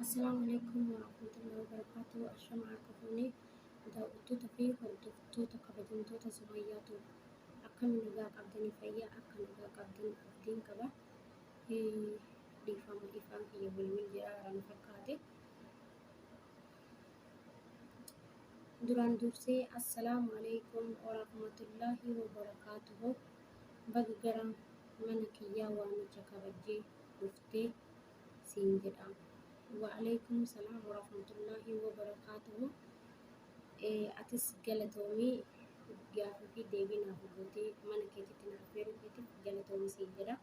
Assalaamu alaikum warahmatullahi wabarakatuh. Ashama harka fuune daawwattoota fi hordoftoota kabajamtoota Sumayyaa Tuub. Akkam nagaa qabdanii fayyaa akka nagaa qabdan abdiin qaba. Eh, Dhiifama dhiifama kiyya bilbil jira waan fakkaate. Duraan dursee assalaamu alaikum warahmatullahi wabarakatuh. Baga gara mana kiyyaa waamicha kabajjee dhuftee. siin jedha wa'aleeykum salaam warahmatullaahi wabarakaatuhu ee atis galatoomii gaafii fi deebii naaf gootee mana keetitti naaf beeruu keetiif galatoomii siin jedha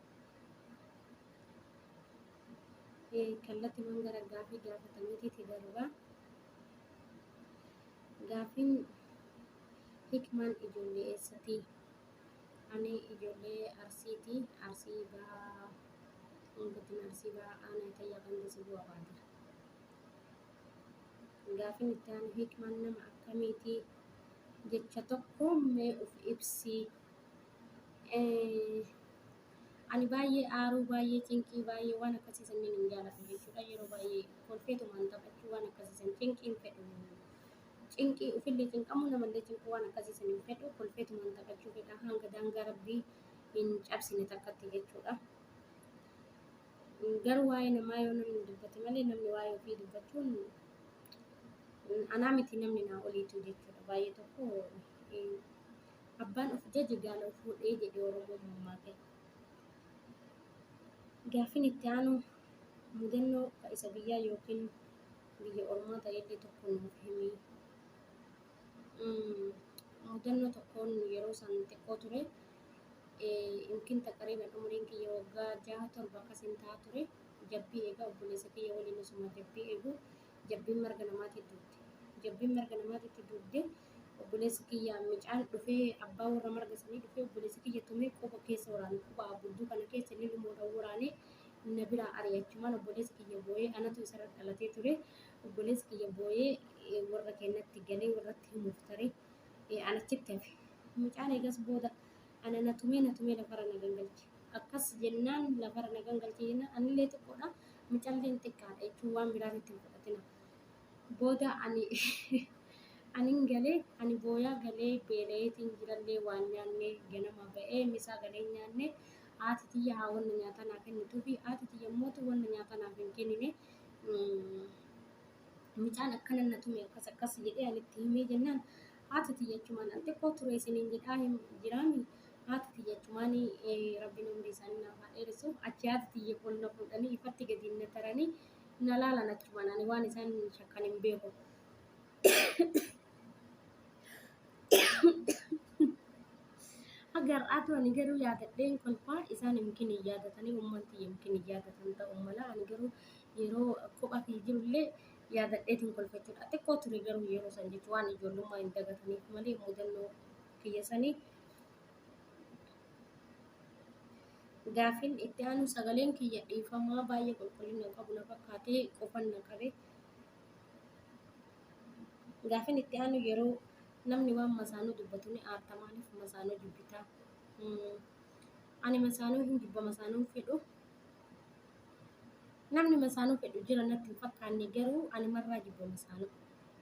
ee kallatiwwan gara gaafii gaafataniitiiti darba gaafiin hikmaan ijoollee eessatii Ani ijoollee Arsiiti. Arsii Bahaa Godina Arsii Bahaa Aanaa Itayyaa Ganda Sibuu Abaatira. Gaafin itti aanu hikmaan nama akkamiiti? Jecha tokkoon mee of ibsi. Ani baay'ee aaruu, baay'ee cinqii, baay'ee waan akkasii sanniin hin jaaladhu jechuudha. Yeroo baay'ee kolfeetumaan taphachuu waan akkasii san cinqiin fedhu. Cinqii ufillee cinqamuu namallee cinquu waan akkasii san hin fedhu kolfeetumaan taphachuu fedha hanga daangaa rabbii hin cabsine takkatti jechuudha. Garuu waa'ee namaa yoo namni dubbate malee namni waa'ee ofii dubbachuun anaa miti namni naa oliitu jechuudha baay'ee tokko abbaan of jaje gaala of fuudhee jedhe oromoon mammaake. Gaaffiin itti aanu mudannoo isa biyyaa yookiin biyya ormaa ta'ellee tokko nuuf himi. Mm, Mudannoo tokkoon yeroo san xiqqoo ture. Eh, Yookiin taqariiban umriin kiyya waggaa jaha torba akkasiin ta'a ture. Jabbii eegaa obboleessa kiyya waliin osuma jabbii eegu jabbiin marga namaatii duute. Jabbiin marga namaatiitti duudde obboleessi kiyya mucaan dhufee abbaa warra marga sanii dhufee obboleessi kiyya tumee quba keessa waraane. Quba abbudduu kana keessa lilmoodhaan waraanee na biraa ari'e achumaan obboleessi kiyya booyee anatu isarra dhalatee ture obboleessi kiyya booyee warra kennatti galee warratti himuuf tare an achitti hafe mucaan eegas booda ana na tumee na tumee lafarra na gangalche akkas jennaan lafarra na gangalche jennaan anillee xiqqoodha mucalleen xiqqaadha jechuun waan biraan itti hin fudhatina booda ani anin galee ani booyaa galee beela'eetiin jirallee waan nyaannee ganama ba'ee misaa galee nyaannee haati tiyya haa wanna nyaataa naa kennituufi haati tiyya immoo wanna nyaataa naaf hin kennine mucaan akkana na tume akkas akkas jedhee ani itti himee jennaan haati tiyya achumaan al xiqqoo ture isiniin jedhaa hin jiraami haati tiyya achumaan rabbiin umrii isaanii naaf haa dheeressu achi haati tiyya kun na fuudhanii ifatti gadi na taranii na laalan achumaan ani waan isaan shakkan hin beeku. Haga har'aatu ani garuu yaadadheen kolfaa isaan yookiin hin yaadatanii uummanti yookiin hin yaadatan ta'uu mala ani garuu yeroo kophaa fi jirullee yaadadheetiin kolfachuudha. Xiqqoo ture garuu yeroo san jechuun waan ijoollummaa hin dagataniif malee mudannoo kiyya sanii gaafin itti aanu sagaleen kiyya dhiifamaa baay'ee qulqullina qabu na fakkaatee qofan na qabe Gaafin itti aanu yeroo namni waan masaanuu dubbatu ni aarta maaliif masaanuu dubbita? Hmm, Ani masaanuu hin jibba masaanuu hin fedhu. Namni masaanuu fedhu jira natti hin fakkaanne garuu ani marraa jibba masaanuu.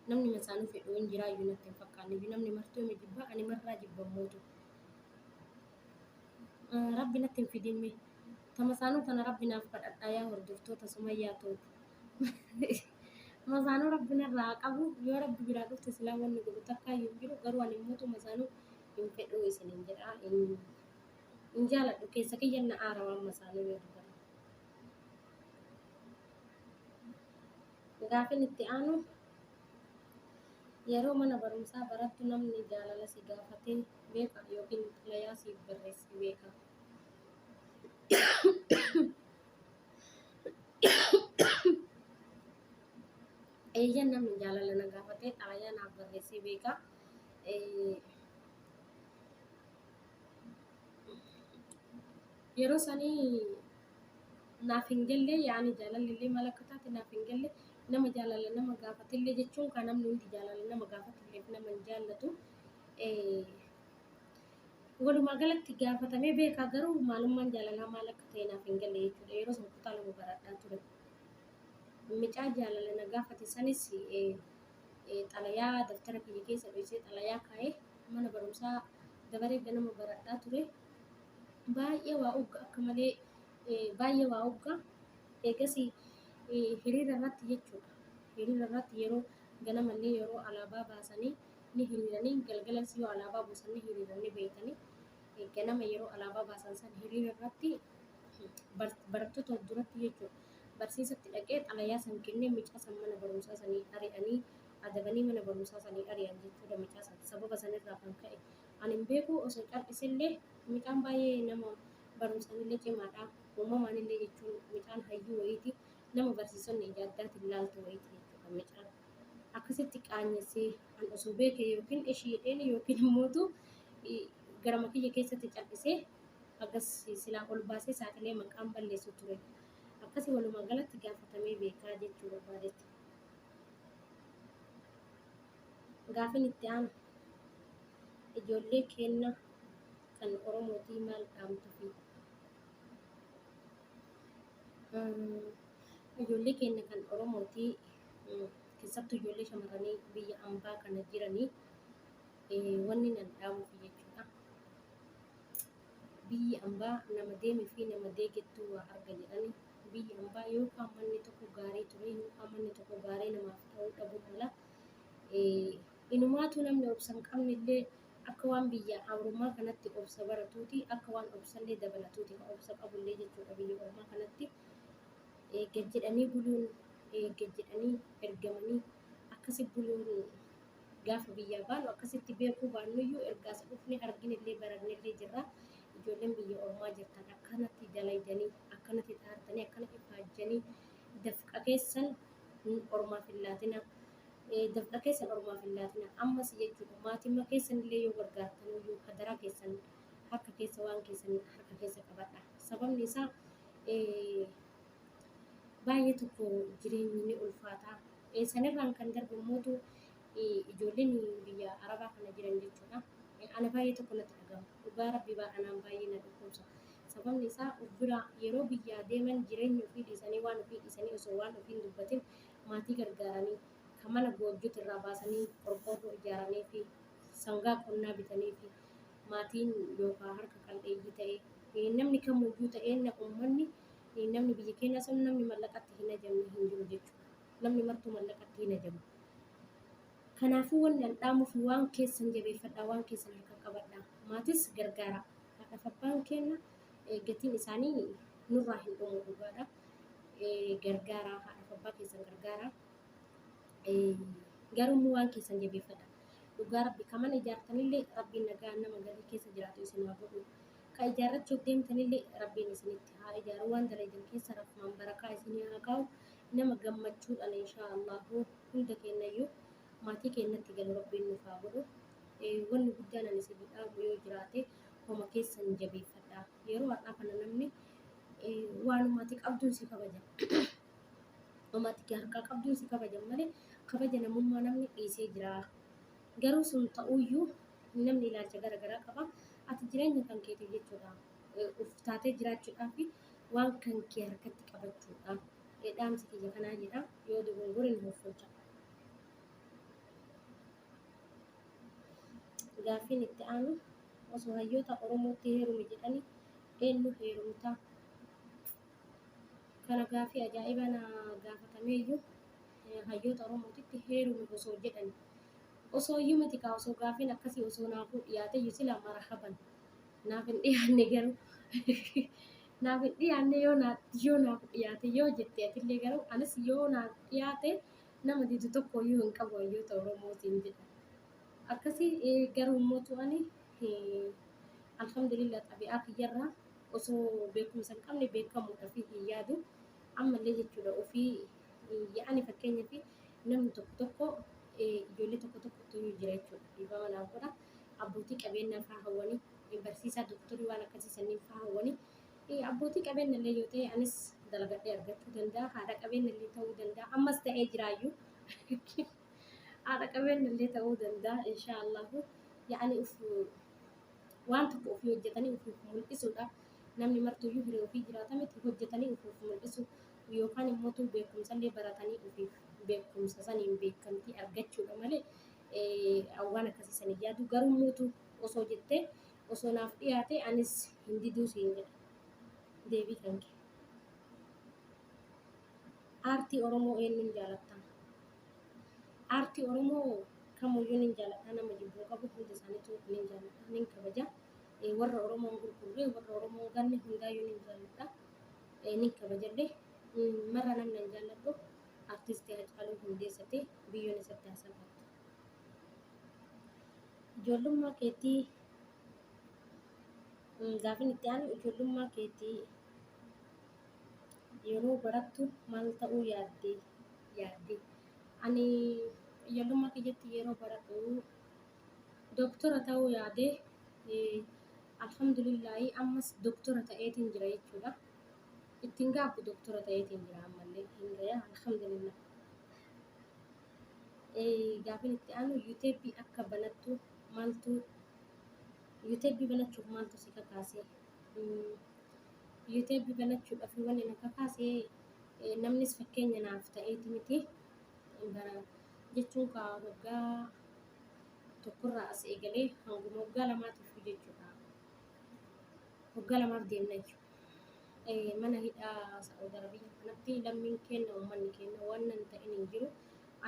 Namni masaanuu fedhu hin jiraa iyyuu natti hin fakkaanne iyyuu namni martuu ni jibba ani marraa jibba mootu. Eh, Rabbi natti hin fidinme. Ta masaanuu tana Rabbi naaf kadhadhaa yaa hordoftoota Sumayyaa tootu. Mazaanuu rabbi narraa haa qabu yoo rabbi biraa dhufte silaa wanni godhu takkaa hin jiru garuu ani immoo mazaanuu hin fedhu isinin jedha hin hin jaaladhu keessa kiyya na aara waan mazaanuu yoo dubbatu. Gaafin itti aanu yeroo mana barumsaa barattu namni jaalala si gaafatee beeka yookiin xalayaa siif barreessee beeka. Eeyyan namni jaalala na gaafate xalayaa naaf barreessee beeka. Yeroo sanii naaf hin galle yaani jaalalli illee maal akka taate naaf hin galle nama jaalala nama gaafate illee jechuun kan namni hundi jaalala nama gaafate illee nama hin jaallatu. Walumaa galatti gaafatamee beekaa garuu maalummaan jaalalaa maal akka ta'e naaf hin galle jechuudha. Yeroo sana kutaa lama baradhaa ture. Mucaa jaalala na gaafate sanis xalayaa daftara kiyya keessa dhoksee xalayaa kaa'ee mana barumsaa dabaree ganama baradhaa ture. Baay'ee waa ugga akka malee baay'ee waa ugga. Eegas hiriira irratti jechuudha. Hiriira irratti yeroo ganamallee yeroo alaabaa baasanii ni hiriiranii galgalas yoo alaabaa buusan ni hiriiran ni beeytanii eh, ganama yeroo alaabaa baasan san hiriira irratti bar- barattoota of duratti jechuudha barsiisatti dhaqee xalayaa san kennee mucaa san mana barumsaa sanii ari'anii adabanii mana barumsaa sanii ari'an jechuudha mucaa san sababa sanirraa kan ka'e ani hin beeku osoo cal'isellee mucaan baay'ee nama barumsaanillee cimaadha uumamaanillee jechuun mucaan hayyuu wayiiti nama barsiisonni ija addaatiin laaltu wayiiti jechuudha mucaan akkasitti qaanyessee an osoo beekee yookiin ishii jedheen yookiin immootu garama kiyya keessatti cal'isee akkas silaa ol baasee saaxilee maqaan balleessu ture. Akkasi walumaa galatti gaafatamee beekaa jechuu barbaadetti. Gaafin itti aanu ijoollee keenna kan Oromootii maal dhaamtufi? Ijoollee keenna kan Oromootii keessattuu ijoollee shamarranii biyya ambaa kana jiranii wanni nan dhaamuuf jechuudha. Biyyi ambaa nama deemee fi nama deegettuu waa arga jedhani. Biyyi ambaa yoo qaammanni tokko gaarii ture yoo qaammanni tokko gaarii namaaf ta'uu dhabuu mala. Inumaatu namni obsa hin qabne illee akka waan biyya Awuroomaa kanatti obsa baratuuti akka waan obsallee dabalatuuti kan obsa qabullee jechuudha biyya Ormaa kanatti. gad jedhanii buluun gad jedhanii ergamanii akkasi buluun gaafa biyyaa baanu akkasitti beekuu baannuyyuu ergaas dhufne arginellee barannellee jirra. Ijoolleen biyya ormaa jirtan akkanatti dalaydanii akkanatti dhaartanii akkanatti faajjanii dafqa keessan ormaaf hin laatina. Dafqa keessan ormaaf hin laatina. Ammas jechuudha maatimmaa keessanillee yoo gargaartaniyyuu hadaraa keessan harka keessa waan keessan harka keessa qabadha. Sababni isaa baay'ee tokko jireenyi ni ulfaata. Sanirraan kan darbu immoo ijoolleen biyya arabaa kana jiran jechuudha. Ana baay'ee tokko natti dhaga'ama. Dhugaa rabbii baa anaan baay'ee na dhukkubsa. Sababni isaa of biraa yeroo biyyaa deeman jireenya ofii dhiisanii waan ofii dhiisanii osoo waan ofii hin dubbatin maatii gargaaranii kan mana goojjuutu irraa baasanii qorqoorroo ijaaranii fi sangaa qonnaa bitanii fi maatiin yookaan harka qal'eeyyii ta'e eh, namni kamuyyuu ta'e na- uummanni eh, namni biyya keenyaa sun namni mallaqatti hin ajamne hin jiru jechuudha. Namni martuu mallaqatti hin ajamu. Kanaafuu wanni an dhaamuuf waan keessan jabeeffadhaa, waan keessan harka qabadhaa. Maatis gargaaraa. Haadhaaf abbaan keenya eh, gatiin isaanii nurraa hin dhumu dhugaadha. Eh, Gargaaraa, haadhaaf abbaa keessan gargaaraa. Eh, Garuu immoo waan keessan jabeeffadhaa. Dhugaa rabbi ka mana ijaartanillee rabbiin nagaan nama garii keessa jiraatu isin haa godhu ka ijaarrachuuf deemtanillee rabbiin isinitti haa ijaaru waan dalaydan keessa rahmaan barakaa isinii haa kaa'u nama gammachuudhaan inshaa Allahu hunda keenyayyuu maatii keenyatti galu rabbiin nuuf haa godhu Eh, wanni guddaan ani isinii dhaamu yoo jiraate homa keessan jabeeffadha yeroo har'aa kana namni eh, waanuma ati qabduun si kabaja Amma ati harkaa qabduun si kabajan malee kabaja namummaa namni dhiisee jira. Garuu sun ta'uyyuu namni ilaalcha gara garaa qaba. Ati jireenya kan keetiif jechuudha. Uf taatee jiraachuudhaa fi waan kan kee harkatti qabachuudha. Dhaamsi kiyya kanaa jedha. Yoo dogongore nu hoffolcha. Gaaffiin itti aanu osoo hayyoota Oromootti heerumi jedhanii eenyu heerumtaa? Kana gaaffii ajaa'ibaa na gaafatameeyyu hayyoota Oromootitti heerumi osoo jedhani. Osoo iyyuu miti kaa osoo gaaffiin akkasii osoo naafuu dhiyaateyyu silaa marahaban. Naaf hin dhiyaanne garuu naaf hin dhiyaanne yoo naa yoo naaf dhiyaate yoo jette atillee garuu anis yoo naaf dhiyaate nama didu tokko iyyuu hin qabu hayyoota Oromootiin jedha. Akkasii garuu immoo tu'ani alhamdulillah xabi'aa kiyyarraa osoo beekumsa hin qabne beekamuudhaaf hin yaadu. Ammallee jechuudha ofii yaa'anii fakkeenyaaf namni tokko tokko ijoollee tokko tokko tuni jira jechuudha. Dhiifama naaf godha. Abbootii qabeenyaa fa'aa hawwanii barsiisaa doktorii waan akkasii sanniin fa'aa hawwanii abbootii qabeenya illee yoo ta'e anis dalagadhee argachuu danda'a. Haadha qabeenya illee ta'uu danda'a. Ammas ta'ee jiraayyuu. Haadha qabeenya illee ta'uu danda'a. Inshaallahu yaa'anii of Waan tokko ofii hojjatanii ufuuf mul'isuudha. Namni martuyyuu hiree ofii jiraata miti. Hojjatanii ufuuf mul'isu yookaan immoo beekumsallee baratanii ufiif beekumsa saniin beekamtii argachuudha malee waan akkasii sanii yaadu garuu muutu osoo jettee osoo naaf dhiyaate anis hin diduu siin jedha. Deebii kan kee. Aartii Oromoo eenyuun jaalatta? Aartii Oromoo kamuyyuu nin jaaladha. Nama jibbuu qabu hunda isaaniitu nin jaaladha, nin kabaja. Eh, Warra Oromoo hin gurgurre, warra Oromoo hin ganne hundaayyuu nin jaaladha. Eh, Nin kabajallee. Mm, Marra namni an jaalladhu artisti Haacaaluu Hundeessati biyyoon isatti haa salphattu. Ijoollummaa keetii mm, gaafin itti aanu ijoollummaa keetii Yeroo barattu maal ta'uu yaadde? yaadde? Ani ijoollummaa kiyyatti yeroo baradhu doktora ta'uu yaade alhamdulillahi ammas doktora ta'eetiin jira jechuudha. Ittiin gaabbu doktora ta'eetiin jira ammallee hin gaya alhamdulillah. Gaafin itti aanu yuuteebii akka banattu maaltu yuuteebii banachuuf maaltu si kakaase? Yuuteeb banachuudhaaf wanni na kakaase namnis fakkeenya naaf ta'eeti miti. Bara jechuun kaa waggaa tokkorraa as eegalee hanguma waggaa lamaatiif jechuudha. Waggaa lamaaf deemna jechuudha. Mana hidhaa Sa'ud Arabiyaa kanatti lammiin keenya uummanni keenya waan nan ta'in hin jiru.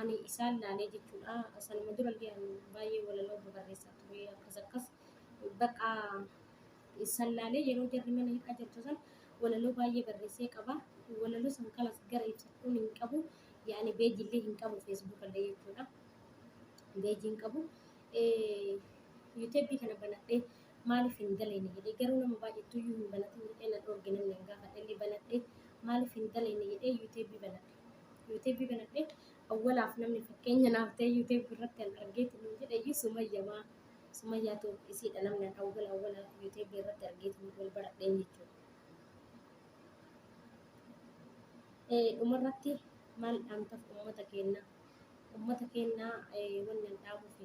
Ani isaan laalee jechuudha. Sanuma durallee ani baay'ee walaloo babarreessaa ture akkas akkas. Bakka san laalee yeroo jarri mana hidhaa jirtu san walaloo baay'ee barreessee qaba. Walaloo san kanas gara ibsachuun hin qabu. Yaani beejii illee hin qabu feesbuuka illee jechuudha. Beejii hin qabu. Yuuteebii kana banadhee maaliif hin daleene jedhee garuu nama baay'eetu iyyuu hin banatin jedhee na dhoorge namni hin gaafadhe illee banadhee maaliif hin daleene jedhee yuuteebii banadhe. Yuuteebii banadhee awwalaaf namni fakkeenya naaf ta'e yuuteebii irratti kan argeetu nu jedhe iyyuu sumayyamaa. Sumayyaa too isiidha namni an awwala awwala yutebi irratti argeetiin wal baradhee jechuudha. Eh, dhumarratti maal dhaamtaf ummata keenna ummata keenna eh, wanni an dhaamufi